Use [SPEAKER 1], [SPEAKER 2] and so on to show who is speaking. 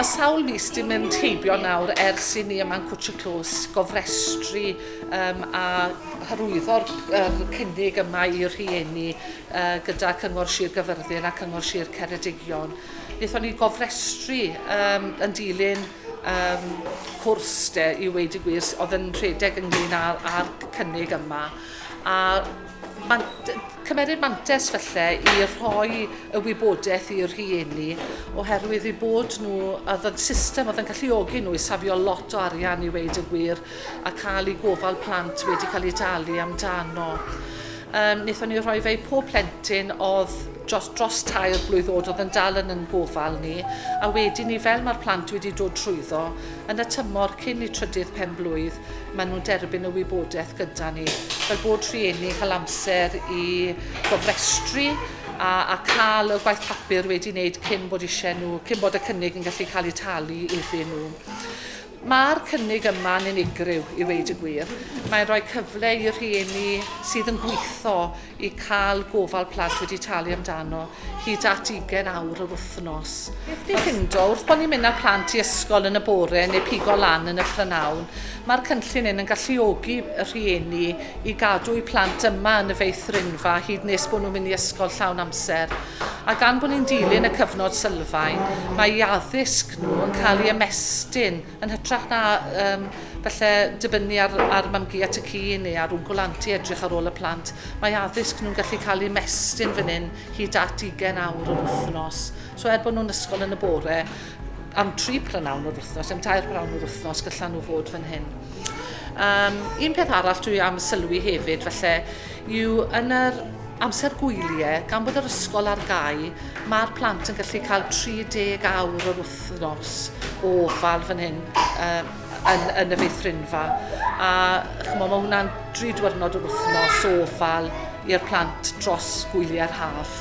[SPEAKER 1] Mae sawl mis di mynd heibio nawr ers i ni yma yn Cwtch y Clws gofrestru um, a hyrwyddo'r er cynnig yma i rhieni uh, gyda Cyngor Sir Gyfyrddin a Cyngor Sir Ceredigion. Nethon ni gofrestru um, yn dilyn Yym, cwrs de, i weud y gwir, oedd yn rhedeg ynglyn â, â'r cynnig yma. A man, cymeryd mantes falle i rhoi y wybodaeth i'r rhieni, oherwydd i bod nhw, oedd y system oedd yn galluogi nhw i safio lot o arian i weud y gwir, a cael eu gofal plant wedi cael eu talu amdano. Um, wnaethon ni rhoi fe i pob plentyn oedd dros, dros tair blwydd oed oedd yn dal yn yn gofal ni a wedyn ni fel mae'r plant wedi dod trwyddo yn y tymor cyn i trydydd pen blwydd maen nhw'n derbyn y wybodaeth gyda ni fel bod rhieni cael amser i gofrestru a, a cael y gwaith papur wedi wneud cyn bod eisiau nhw, cyn bod y cynnig yn gallu cael ei talu iddyn nhw. Mae'r cynnig yma'n unigryw i weud y gwir. Mae'n rhoi cyfle i rhieni sydd yn gweithio i cael gofal plant wedi talu amdano hyd at 20 awr yr wythnos. Beth ni'n ffindo, wrth bod ni'n mynd â plant i ysgol yn y bore neu pigo lan yn y prynhawn, mae'r cynllun hyn yn galluogi y rhieni i gadw'u plant yma yn y feithrinfa hyd nes bod nhw'n mynd i ysgol llawn amser. A gan bod ni'n dilyn y cyfnod sylfaen, mae eu addysg nhw yn cael ei ymestyn yn hytrach na um, falle dibynnu ar, ar mamgu at y ci neu ar wncwl anti edrych ar ôl y plant. Mae addysg nhw'n gallu cael ei ymestyn fan hyn hyd at 20 awr yr wythnos. So er bod nhw'n ysgol yn y bore, am tri prynawn o'r wythnos, am tair prynawn o'r wythnos, gyllan nhw fod fan hyn. Um, un peth arall dwi am sylwi hefyd, felly, yw yn yr Amser gwylie, gan bod yr ysgol ar gau, mae'r plant yn gallu cael 30 awr yr wythnos o ofal fan hyn uh, yn, yn y feithrinfa. A chymod, mae hwnna'n dri diwrnod yr wythnos o ofal i'r plant dros gwyliau'r haf.